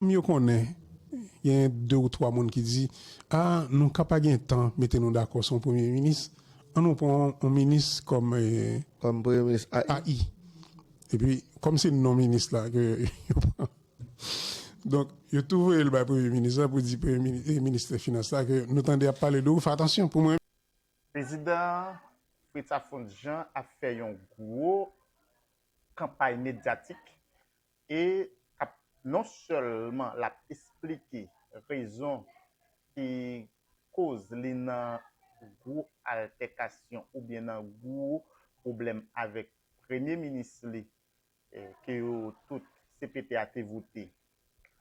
M yo konnen gen de ou twa moun ki di a nou ka pa gen tan mete nou dakò sou yon premye minis an nou pran yon minis kòm premye minis AI epi kòm se non minis la ke yo pran donk yo tou voye l bay premye minis la pou di premye minis e ministè finans la ke nou tande ap pale de ou fè atansyon pou mwen. Prezidan Fritz Alphonse Jean ap fè yon gwo kanpay medyatik e kap non sèlman lap esplike rezon ki koz li nan gwo altèkasyon oubyen nan gwo pwoblèm avèk premye minis li ke yo tout cpt a te vote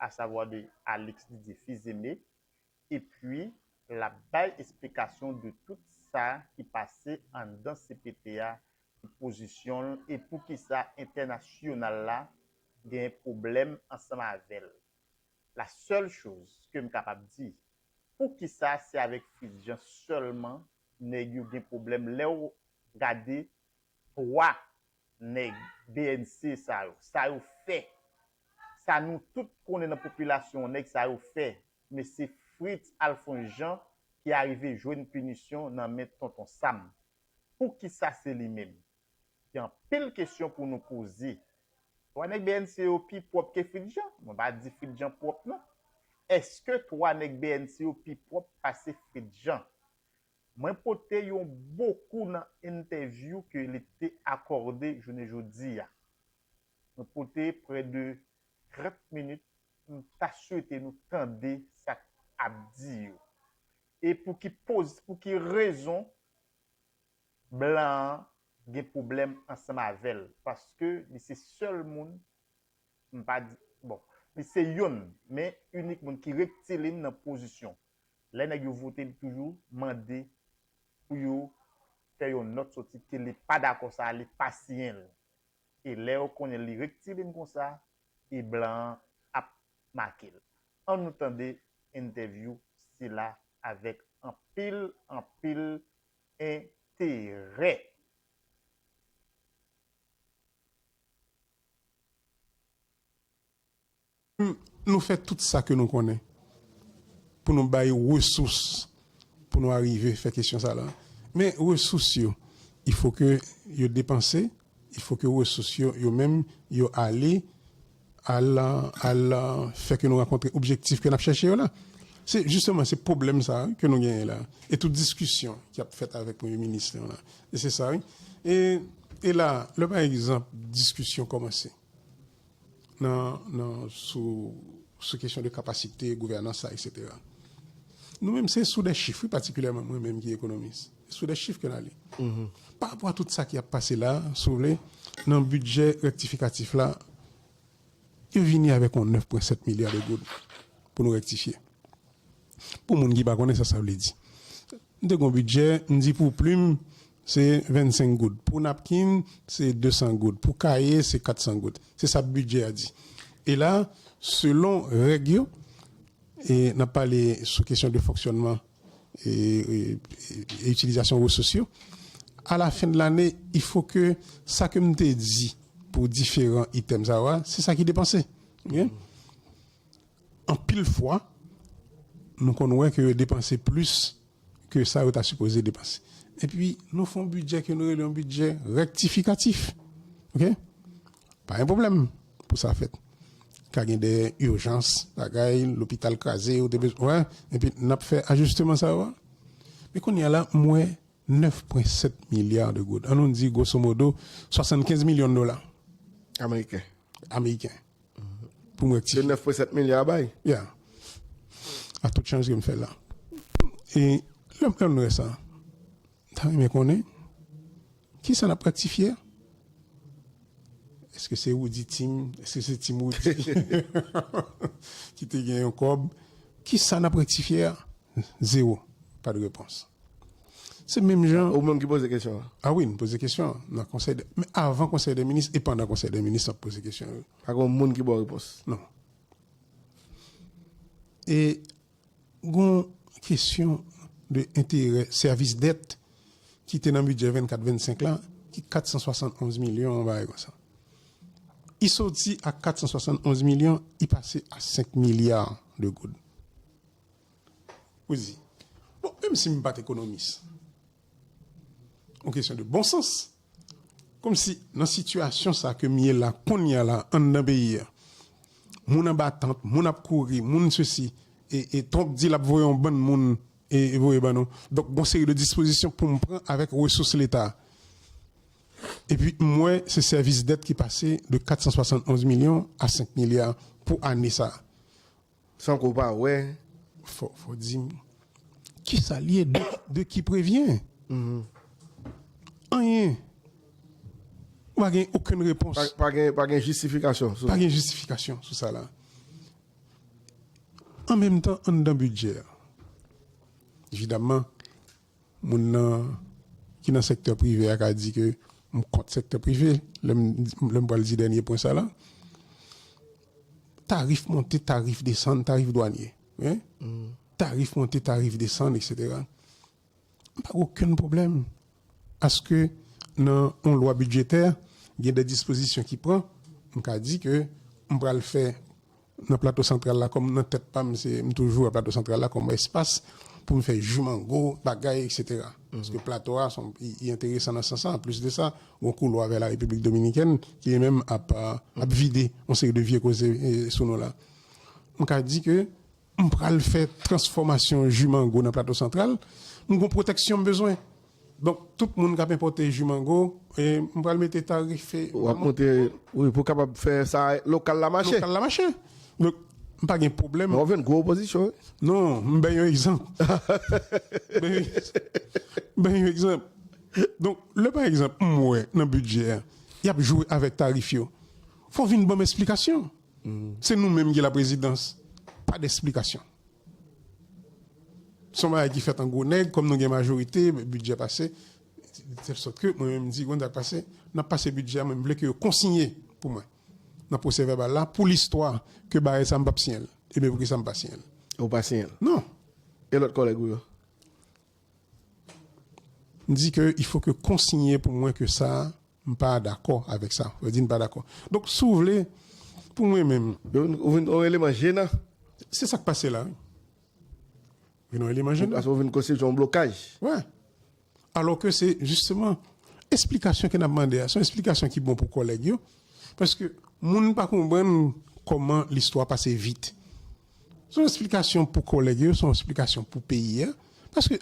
asavwa de Alix Didier Fils-Aimé epi l ap bay esplikasyon de tout sa ki pase anndan cpt a ki pozisyon l e poukisa entènasyonal la gen pwoblèm ansanm avè l la sèl choz ke m kapab di poukisa se avèk Fritz Jean sèlman nèg yo gen pwoblèm lè w gade 3 nèg bnc sa yo, sa yo fè, sa nou tout konnen nan popilasyon an nèg sa yo fè, men se Fritz Alphonse Jean ki arive jwenn pinisyon nan men Tonton Sam. Poukisa se li menm? Gen anpil kesyon pou nou poze. Twa nèg bnc yo pi pwòp ke Fritz Jean? Mwen pa di Fritz Jean pwòp non. Eske twa nèg bnc yo pi pwòp pase Fritz Jean? Mwen pote yon bokou nan entèvyou ke li te akòde jounen jodi a. Mwen pote prè de 30 minit, m ta swete nou tande sa k ap di yo. E pou ki poz, pou ki rezon blan an gen pwoblèm ansanm avè l, paske li se sèl moun M pa di, bon. Li se youn, men inik moun ki rektilin nan pozisyon. Lè nèg yo vote li toujou mande pou yo fè yon nòt soti ke li pa dakò sa a, li pa siyen l. E lè yo konnen li rektilin konsa, e blan an ap make l. An nou tande entèvyou sila avèk anpil, anpil enterè. Nou fè tout sa ke nou konnen pou nou bay resous pou nou arive fè kesyon sa la. Men resous yo, il fo ke yo depanse, il fo ke resous yo, yo menm, yo ale, al, al fè ke nou rankontre objektif ke n ap chèche yo la. Se jisteman se pwoblèm sa a ke nou genyen la. E tout diskisyon ki ap fèt avèk premye minis nou la, E se sa wi. E e la, lè pa egzanp diskisyon kòmanse nan nan sou sou kesyon de kapasite gouvènans la eksetera. Nou menm se sou de chif wi patikilyèman mwen menm ki ekonomis. Se sou de chif ke n ale. Parapò a tout sa ki ap pase la, si w vle, nan bidjè rektifikatif la, Yo vini avèk yon 9,7 milya de goud pou nou rektifye. Pou moun ki pa konnen sa sa vle di. Nou te gen yon bidjè, m di pou plim se 25 goud, pou napkin se 200 goud, pou kaye se 400 goud. Se sa bidjè a di. E la, selon règ yo, e n ap pale sou kesyon de fonksyònman e itilizasyon resous yo, a la fen de lane il fo ke sa ke m te di pou diferan itèm sa yo a, se sa ki depanse. Anpil fwa, nou konn wè ke yo depanse plis ke sa yo ta sipoze depanse. Epi, nou fon bidjè ke nou rele yon bidjè rektifikatif. Ok? Pa gen pwoblèm pou sa fèt. Ka gen de urjans, bagay, lopital kraze, yo te bezwen, wè, epi n ap fè ajisteman sa yo a. Men kounye a la, m wè 9 pwen 7 milya de goud. An nou di gwosomodo 75 milyon dola. Ameriken. Ameriken. Pou m rektifye. Se 9 pwen 7 milya a bay? Ya. A tout chanj ke m fè la. E lè m wè sa, m ta renmen konnen. Kisa nap rektifye a? Eske se Roody Team? Eske se Team Roody ki te gen yon kòb? Kisa nap rektifye a? Zewo. Pa de repons. Se menm jan. Ou menm ki poze kesyon an? A wi, m poze kesyon an nan konsèy dè. Men avan konsèy dè minis e pandan konsèy dè minis m ap poze kesyon yo. Pa gen yon moun ki ba w repons? Non. E. Gon kesyon de enterè sèvis dèt ki te nan bidjè 24, 25 la ki 471 milyon yon bagay konsa. I soti a 471 milyon i pase a 5 milya de goud. Ou di, bon menm si m pat ekonomis, on kesyon de bon sans, Kòmsi nan sitiyasyon sa ke m ye la kounya la anndan peyi a, moun anba tant, moun ap kouri, moun sesi, e Trump di l ap voye yon bann moun voye ban nou. Donk gon seri de dispozisyon pou m pran avèk resous leta. Epi m wè se sèvis dèt ki pase de 471 milyon a 5 milya pou ane sa. San ke w pa wè. Fò di m ki sa l ye, de ki prevyen? Anyen. Ou pa gen okenn repons. Pa gen jistifikasyon. Pa gen jistifikasyon sou sa la. An menm tan anndan bidjè a. Evidaman. Moun nan ki nan sektè prive a ka di ke m kont sektè prive lè m pral di dènye pwen sa la. Tarif monte, tarif desann, tarif dwanye, tarif monte, tarif desann, eksetera. M pa gen okenn pwoblèm aske nan yon lwa bidjetè gen de dispozisyon ki pran, m ka di ke m pral fè Nan Plato Santral la kòm nan tèt pa m se m toujou wè Plato Santral la kòm espas pou m fè ji mango, bagay eksetera. Paske Plato a son li enteresan nan sans sa. Anplis de sa, gon koulwa vè Larepiblik Dominikèn ki li menm ap ap vide yon seri de vye koze sou nou la. M ka di ke m pral fè transfòmasyon ji mango nan Plato Santral, m gon pwotèksyon m bezwen. Donk tout moun kap enpòte ju mango m pral mete tarife. Wap monte wi pou kapab fè sa lokal la mache. Lokal la mache. Donk m pa gen pwoblèm. Men wap jwenn gwo opozisyon wi. Non m bay yon egzanp. M bay yon egzanp. M bay yon egzanp. Donk lè pa egzanp m wè nan bidjè a yap jwe avèk tarif yo fò vin banm esplikasyon. Se nou menm ki la prezidans pa desplikasyon. Son bagay ki fèt an gwo nèg kòm nou gen majorite bidjè pase de tèl sòt ke mwen menm m di konn sak pase nap pase bidjè mwen m vle ke yo konsinye pou mwen nan pwosè vèbal la pou listwa ke barè sa m pap siyen l. Ebyen poukisa m pa siyen l. Ou pa siyen l? Non. E lòt kòlèg ou yo? M di ke il faut ke konsinye pou mwen ke sa a m pa dakò avèk sa. Sa vle di m pa dakò. Donk si w vle pou mwen menm. Yo vin ou vin on eleman jenan. Se sa k pase la wi. Vin on eleman jenan. Paske ou vin konstitye on blokaj. Wè. Alò ke se jisteman esplikasyon ke n ap mande a. Se yon esplikasyon ki bon pou kòlèg yo. Paske moun pa konprann kòman listwa pase vit. Se yon esplikasyon pou kòlèg yo, se yon esplikasyon pou peyi a. Paske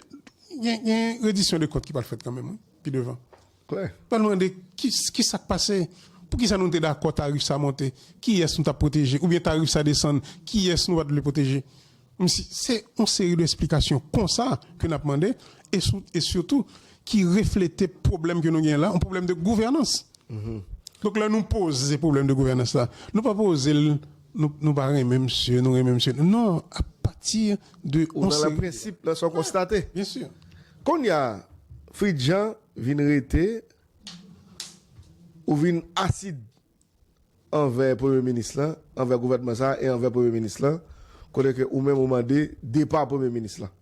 gen redisyon de kont ki pral fèt kanmenm wi, pi devan. Klè. Yo pral mande ki sa k pase? Pou ki sa nou te dakò tarif sa monte? Kiyès nou t ap pwoteje? Oubyen tarif sa desann, kiyès nou pa t vle pwoteje? Msi, se yon seri de esplikasyon konsa ke n ap mande e sou, e sitou ki reflete pwoblèm ke nou gen la, yon pwoblèm de gouvènans. Donk lè nou poze pwoblèm de gouvènans la, nou pa poze l Nou pa renmen misye, nou renmen misye. Non, a pati de yon seri. Ou nan la prensip nan sa w konstate. Byen si. Kounya, Fritz Jean vin rete, ou vin asid anvè premye minis lan, anvè gouvènman sa a e anvè premye minis lan, kote ke ou menm ou mande depa premye minis lan.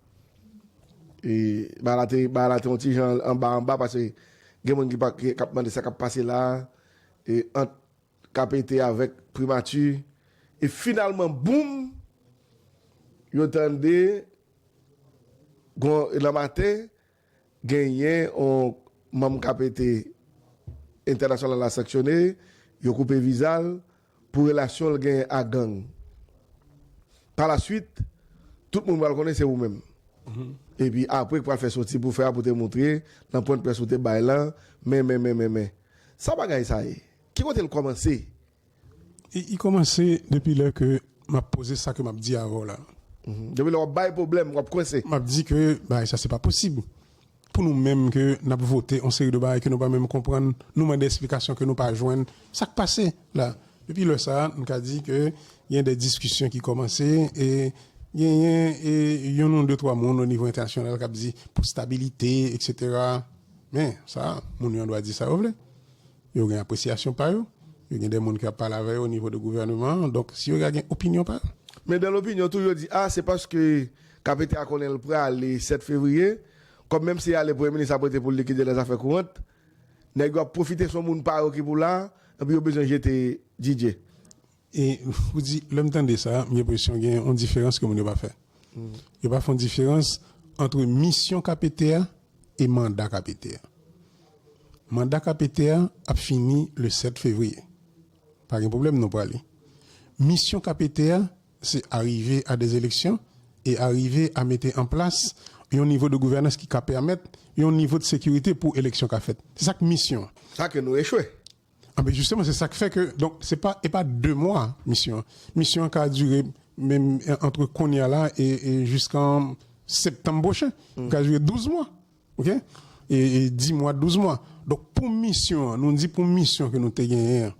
E bagay la te, bagay la te yon ti jan anba anba pase gen moun ki pa, ki ap mande sa k ap pase la a e ant. ka pete avèk primati e finalman boum yo tande gon nan maten genyen yon manm ka pete entènasyonal la sanksyone yo koupe viza l pou relasyon l genyen ak gang pa la swit tout moun pral konnen se ou menm epi apre k pral fè soti pou fè a pou te moutre nan pwennprès ou te bay lan men men men men men sa bagay sa ye. Ki kote l kòmanse? Li kòmanse depi lè ke m ap poze sa ke m ap di avè w la. Depi lè w ap bay pwoblèm, w ap kwense. M ap di ke bagay sa se pa posib. Pou nou menm ke n ap vote yon seri de bagay ke nou pa menm konprann, nou mande esplikasyon ke nou pa jwenn. Sa k pase la? Depi lè sa a, m ka di ke gen de diskisyon ki kòmanse e genyen yon ou de twa moun o nivo entènasyonal k ap di pou stabilite, eksetera. Men, sa, moun yo an dwa di sa yo vle. Yo gen apresyasyon pa yo. Yo gen de moun ki ap pale avè yo o nivo de gouvèneman an. Donk, si yo ka gen opinyon pa yo. Men dan lopinyon tou, yo di, a, se paske KPT a konnen l prale 7 fevriye, kòm menm si l ale Premye Minis ap rete pou l likide lè zafè kourant. Nèg yo ap pwofite s on moun pa yo ki pou la, epi yo bezwen jete DJ. E pou di, lè m tande sa, m gen presyon gen yon diferans ke moun yo pa fè. Yo pa fè yon diferans antre misyon KPT a e manda KPT a. Manda KPT a ap fini le 7 fevriye. Pa gen pwoblèm nou prale. Misyon KPT a, se arive a de eleksyon e arive a mete an plas yon nivo de gouvènans ki ka pèmèt yon nivo de sekirite pou eleksyon ka fèt. Se sa k misyon an. Sa ke nou echwe. Anben jisteman se sak fè ke donk se pa e pa 2 mwa misyon an. Misyon an ka dire menm antre kounya la e jiskan septanm pwochen. Li ka dire 12 mwa ok e 10 mwa 12 mwa. Donk pou misyon an nou di pou misyon ke nou te genyen an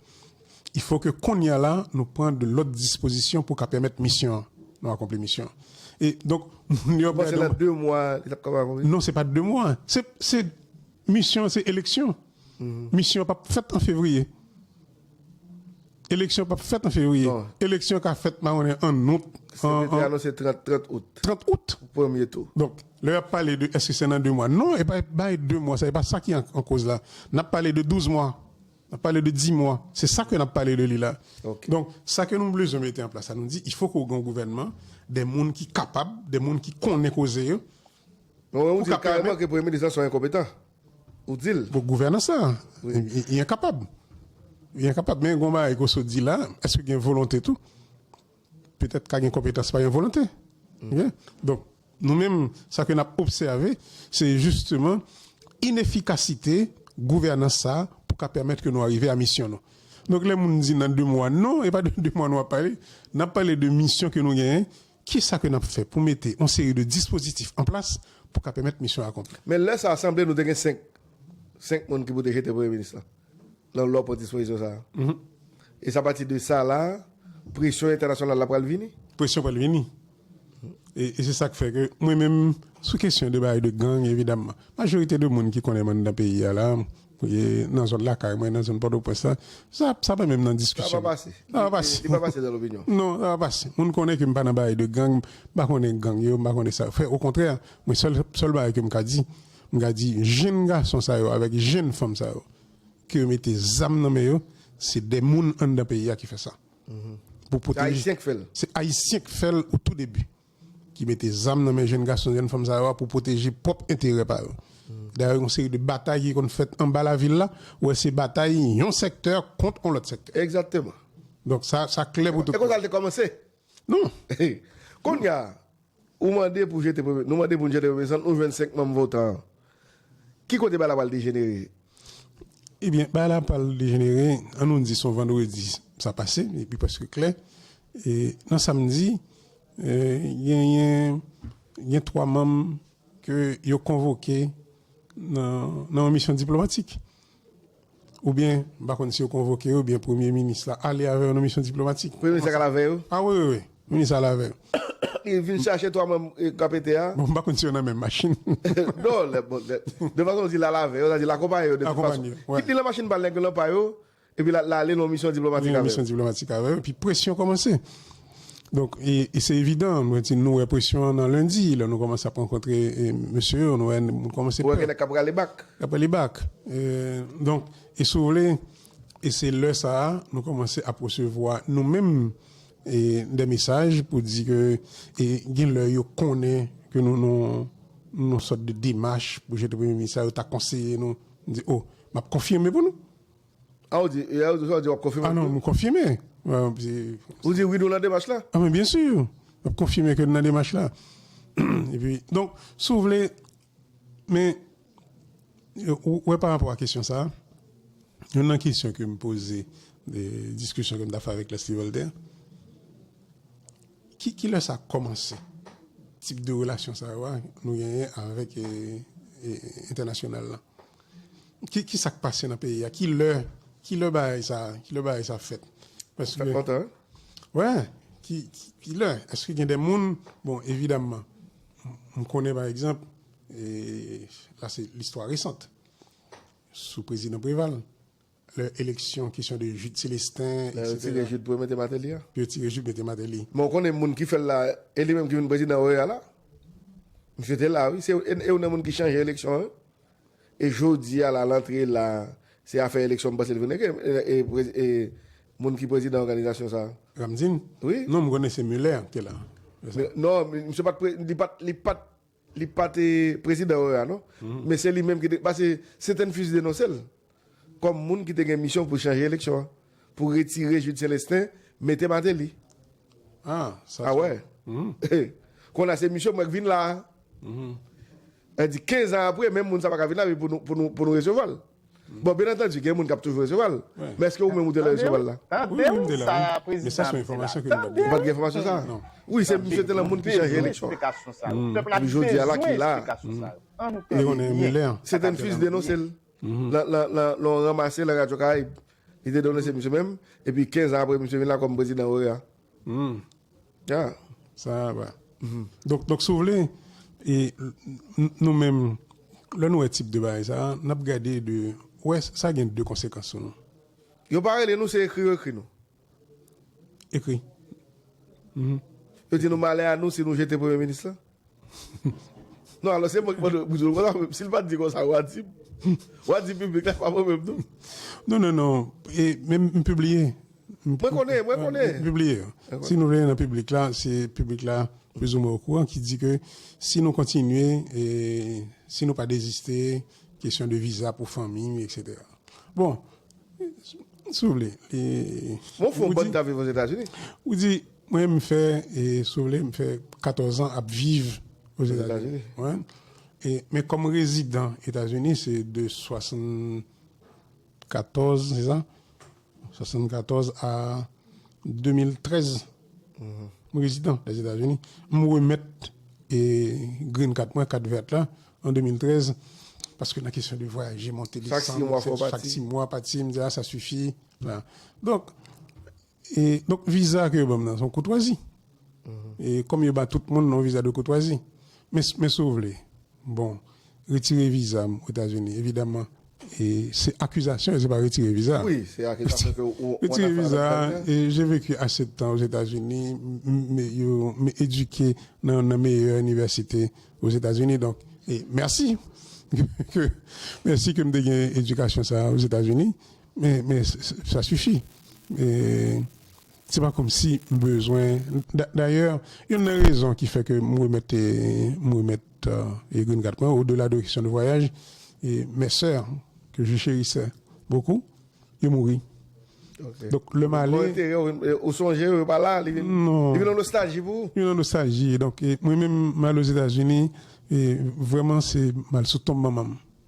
il fo ke kounya la nou pran de lòt dispozisyon pou ka pèmèt misyon an nou akonpli misyon an. E donk moun yo ap gade. Ou panse nan 2 mwa li tap kapab akonpli? Non se pa 2 mwa se se. Misyon an se eleksyon. Misyon an pap fèt an fevriye. Eleksyon pap fèt an fevriye. Eleksyon ka fèt ma konnen an out. CENTE te anonse 30, 30 out. 30 out. Pou premye tou. Donk, lè y ap pale de èske se nan 2 mwa. Non, e pa bay 2 mwa sa. E pa sa ki an koz la. N ap pale de 12 mwa. N ap pale de 10 mwa. Se sa ke n ap pale de li la. Ok. Donk, sa ke nou blezwen mete an plas la, nou di, ifo ke w gen yon gouvènman, de moun ki kapab, de moun ki konnen koze yo, Mwen wè ou di kareman ke premye minis lan son enkonpetan. Ou di l. Bon gouvènans la. Li enkapab. Li enkapab. Men gon bagay ke w sot di la, eske gen volonte tou? Petèt ka gen konpetans pa gen volonte. Ok? Donk, nou menm sa ke n ap obsève, se jisteman inefikasite gouvènans sa pou ka pèmèt ke nou arive a misyon nou. Donk lè moun di nan 2 mwa, non e pa de 2 mwa nou ap pale. N ap pale de misyon ke nou genyen Ki sa ke n ap fè pou mete yon seri de dispozitif an plas pou ka pèmèt misyon an akonpli? Men lè sa a, sanble nou te gen 5, 5 moun ki pou te jete Premye Minis lan, nan lò pran dispozisyon sa a. E se apati de sa la a, presyon entènasyonal la pral vini? Presyon pral vini. E se sa k fè ke mwen menm, sou kesyon de bagay de gang, evidaman, majorite de moun ki konnen m anndan peyi a la, Nan zòn lakay mwen, nan zòn Pòtoprens la, sa sa pa menm nan diskisyon. Sa pa pase. Sa pa pase. Li pa pase nan lopinyon. Non, sa pa pase. Moun konnen ke m pa nan bagay de gang, m pa konnen gang yo, m pa konnen sa yo fè. Okontrè, mwen sèl sèl bagay ke m ka di, m ka di jenn gason sa yo avèk jenn fanm sa yo ke yo mete zam nan men yo, se de moun anndan peyi a ki fè sa. Pou pwoteje. Se Ayisyen k fè l. Se Ayisyen k fè l o tou debi. ki mete zam nan men jenn gason, jenn fanm sa yo a pou pwoteje pwòp enterè pa yo. Dayè yon seri de batay ki konn fèt anba lavil la, ou wè se batay yon sèktè kont yon lòt sèktè. Egzakteman. Donk sa, sa klè pou tout moun. E konsa l te kòmanse? Non. Kounye a, ou mande pou jete premye, nou mande pou nou jete premye san, nou jwenn 5 manm votan an. Ki kote bagay la pral dejenere? Ebyen, bagay la pral dejenere, an nou di son vandredi sa pase, li pi prèske klè. E nan samdi, genyen gen 3 manm ke yo konvoke nan yon misyon diplomatik. Oubyen, m pa konn si yo konvoke yo, oubyen premye minis la ale avè yo nan misyon diplomatik. Premye minis la ka ale avè yo? A wi, wi, wi. Premye minis la ale avè yo. Li vin chache 3 manm KPT a? Bon, m pa konn si yo nan menm machin. Non, lè, bon, lè. De fason ou di l ale avè yo, sa vle di l akonpaye yo de tout fason. Akonpaye yo, wi. Kit li nan machin pa l, nèg yo nan pa yo, epi l ale nan yon misyon diplomatik avè yo. Li nan yon misyon diplomatik avè yo, epi presyon kòmanse. Donk, e se evidan, mwen di nou wè presyon an nan lendi, lè nou kòmanse ap rankontre mesye yo, nou wè moun kòmanse pè. Ou wè gen nèg k ap rale bak. K ap rale bak. Donk, e si w vle, e se lè sa a nou kòmanse ap resevwa nou menm dè mesaj pou di ke e gen lè yo konnen ke nou nan yon sòt de demach pou jete premye minis la, yo ta konseye nou, nou di o, m ap konfime pou nou. A ou di, e a ou di, sa ou di wap konfime tou? A non, m konfime. Ou di wi nou nan demach la? A men byen sur, map konfime ke nou nan demach la. E pi, donk, si w vle, men, ou wè pa rapò a kesyon sa, youn nan kesyon ke m poze, diskisyon ke m ta fè avèk Leslie Voltaire, ki ki lè sa kòmanse, tip de relasyon sa yo a nou genyen avèk entènasyonal la? Ki sak pase nan peyi a? Ki lè ki lè bagay sa ki lè bagay sa fèt? Paske Sa kontan? Wè ki ki lè eske gen de moun bon evidamman m konnen pa egzanp e la se listwa resant sou prezidan Preval Lè eleksyon kesyon de Jude Celestin etc. Lè yo tire Jude pou yo mete Martelly a? Pou yo tire Jude mete Martelly. Men ou konnen moun ki fèl la e li menm ki vin prezidan OEA la? Misye te la wi, se youn nan moun ki chanje eleksyon an wi. E jodi a la lantre la se afè eleksyon m panse li vin regle e moun ki prezidan òganizasyon sa. Ramdin? Wi. Non m konnen se Muller ki te la. Non misye pat li pat Li pa te prezidan OEA non, men se li menm ki te, pase Cettenfus denonse l kòm moun ki te gen misyon pou chanje eleksyon an, pou retire Jude Celestin, mete Martelly. Ah, sa se. Awè. Kon a se misyon mwen k vin la a. Sa vle di 15 an apre, menm moun sa pa ka vin la pou nou resevwa l. Bon, byen antandi, gen moun k ap toujou resevwa l. Men èske ou menm ou te la resevwa l la? Tande w sa a prezidan an di la. Tande w! Ou pa t gen enfòmasyon sa a? Wi, se misye te lan moun ki chanje eleksyon. Pèp la bezwen esplikasyon sa yo. Pèp la bezwen esplikasyon sa yo. An nou tande byen. Seten Fils denonse l lan yon ranmase lan Radyo Karayib. Li te denonse misye menm, epi 15 an apre misye vin la kòm prezidan OEA. Donk si w vle, nou menm, lè nou wè tip de bagay sa, n ap gade de, wè sa gen de konsekans sou nou. Yo pa rele nou, se ekri yo ekri nou. Ekri. Yo di nou malè a nou si nou jete premye minis lan? Non alò se mwen ki mande pou di l konsa menm. Si l pa t di konsa wa di m. Wa di piblik la pa mwen menm non. Non non non e menm m pibliye. Mwen konnen, mwen konnen. M pibliye. Si nou vle nan piblik la se piblik la plizoumwen okouran ki di ke si nou kontinye e si nou pa deziste kesyon de viza pou fanmi eksetera. Bon si w vle e. Bon fon bann k t ap viv Ozetazini. Ou di. Mwen m fè e si w vle m fè 14 ans ap viv ozetazini wen e men kòm rezidan etazini se de 74 se sa 74 a 2013 m rezidan lèzetazini m remèt e green card mwen carte verte la an 2013 paske nan kesyon de vwayaje monte desann chak 6 mwa pati m di a sa sifi donk E donk viza ke yo banm nan son koutwazi. E kòm yo ba tout moun non viza de koutwazi. Men men si w vle bon retire viza m Etazini evidaman e se akizasyon se pa retire viza. Wi se akizasyon ke ou an afè avèk Biden. Retire viza e je veki ase de tan Ozetazini m yo m edike nan nan meyè inivèsite Ozetazini donk e mèsi ke mèsi ke m te gen edikasyon sa Ozetazini. Men sa sifi. Se pa kòmsi m bezwen. Dayè, youn nan rezon ki fè ke m remèt m remèt green card mwen, odela de kesyon de vwayaj, mes sœurs que je chérissais beaucoup, yo mouri. Donk lè m ale. Yo antere yo, ou sonje yo, yo pa la, li vin yon nostalji pou ou. Yon nostalji. Donk mwen menm m ale Ozetazini, vrèman se m al sou tonm manman m.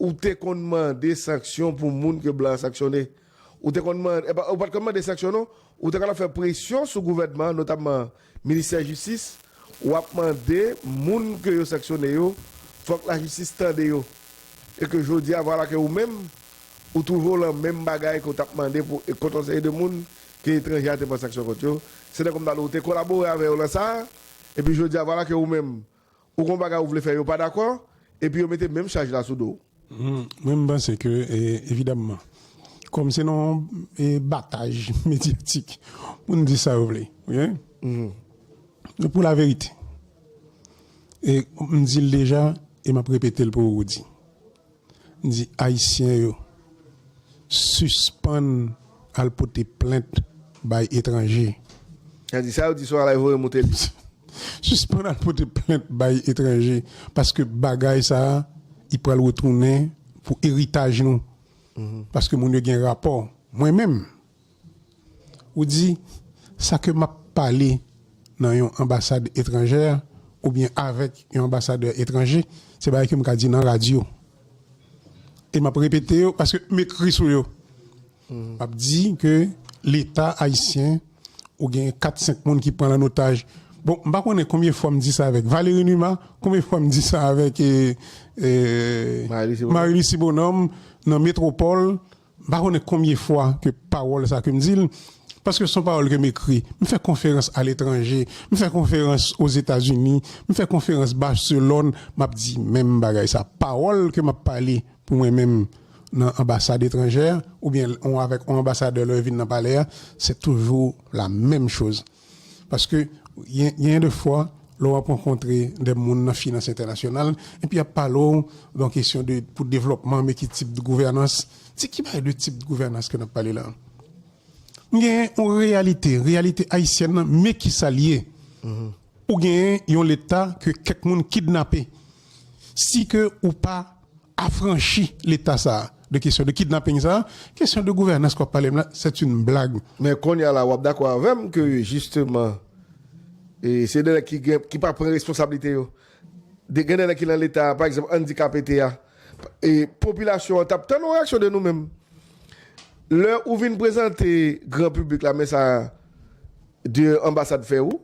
Ou te konn mande sanksyon pou moun ke blan sanksyone? Ou te konn mande, epa ou pat konn mande sanksyon non, ou te konn ap fè presyon sou gouvènman, notamman ministè jistis, wap mande moun ke yo sanksyone yo, fòk lajistis tande yo. E ke jodi a vwala ke ou menm, ou twouve w lan menm bagay ke w tap mande pou kont yon seri de moun ke etranje a te pran sanksyon kont yo, se nan komtalo ou te kolabore avè yo lan sa, epi jodi a vwala ke ou menm, Ou gon bagay ou vle fè yo pa dakò epi yo mete menm chaj la sou do w. Mwen m panse ke evidamman kòm se nan yon bataj medyatik moun di sa yo vle oke men pou laverite e m di l deja e m ap repete l pou Roody di ayisyen yo sispann al pote plent bay etranje. Nan di sa yo di sou alay voye moute li. Sispann al pote plent bay etranje paske bagay sa li pral retounen pou eritaj nou paske moun yo gen rapò mwen menm. Ou di, Sa ke m ap pale nan yon anbasad etranjè oubyen avèk yon anbasadè etranje, se bagay ke m ka di nan radyo. E m ap repete yo paske m ekri sou yo. M ap di ke Leta ayisyen ou genyen kat senk moun ki pran l an otaj. Bon, m pa konnen konbyen fwa m di sa avèk Valéry Numa, konbyen fwa m di sa avèk Marie-Lucie Bonhomme nan Metropole, M pa konnen konbyen fwa ke pawòl sa ke m di l, paske son pawòl ke m ekri. M fè konferans aletranje, m fè konferans Ozetazini, m fè konferans Barcelòn, m ap di menm bagay sa. Pawòl ke m ap pale pou mwen menm nan anbasad etranjè, oubyen avèk yon anbasadè lè yo vin nan palè a, se toujou la menm choz. Paske genyen de fwa lè w ap rankontre de moun nan finans entènasyonal epi y ap pale w nan kesyon de pou devlòpman men ki tip de gouvènans, se ki bay de tip de gouvènans ke n ap pale la? M genyen yon reyalite, reyalite ayisyèn nan men ki sa l ye, ou genyen yon leta ke kèk moun kidnape. Si ke ou pa afranchi leta sa a de kesyon de kidnapping sa a, kesyon de gouvènans ke w ap pale m la, c'est une blague. Men konnya la w ap dakò avè m ke jisteman se de nèg ki pa pran responsablite yo. Gen de nèg ki nan leta a, pa egzanp Andy KPT a, popilasyon an t ap tann yon reyaksyon de nou menm. Lè ou vin prezante gran piblik la men sa de anbasad fè ou,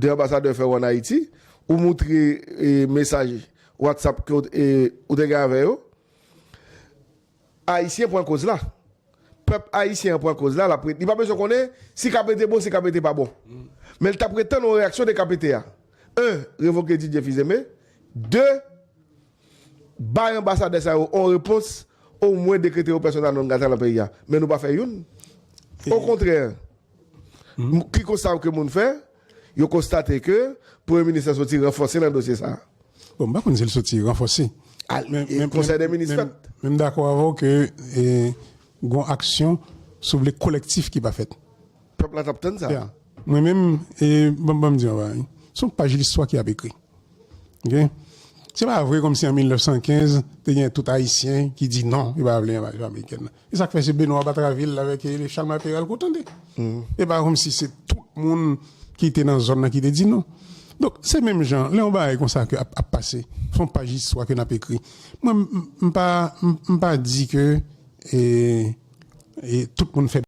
2 anbasadè fè ou an Ayiti, ou moutre mesaj WhatsApp ke ou te gen avè yo, Ayisyen pran koz la. Pèp Ayisyen an pran koz la, lap li pa bezwen konnen si KPT bon, si KPT pa bon. Men li ta pre tann yon reyaksyon de KPT a. 1, revoke Didier Fils-Aimé, 2. Bay anbasadè sa yo on repons, o mwen dekrete yo persona non grata lan peyi a. Men nou pa fè youn. O kontrè, ki konsta ke moun fè? Yo konstate ke premye minis lan soti ranfòse lan dosye sa a. Bon, m pa konn si l soti ranfòse. Men konsèy dè minis fèt. Men m dakò avè w ke gon aksyon, si w vle, kolèktif ki pa fèt. Pèp la tap tann sa. Ya Mwen menm e banm banm diw yon bagay son paj listwa ki ap ekri ok se pa vre kòmsi an 1915 te gen tout ayisyen ki di non yo pa vle envazyon amerikèn nan e sak fè se Benoît Batraville avèk Charles Marc Péralte kou tande e pa kòmsi se tout moun ki te nan zòn nan ki te di non donk se menm jan lè yon bagay konsa ke ap ap pase son paj listwa ke nap ekri mwen m pa m pa di ke e e tout moun fè.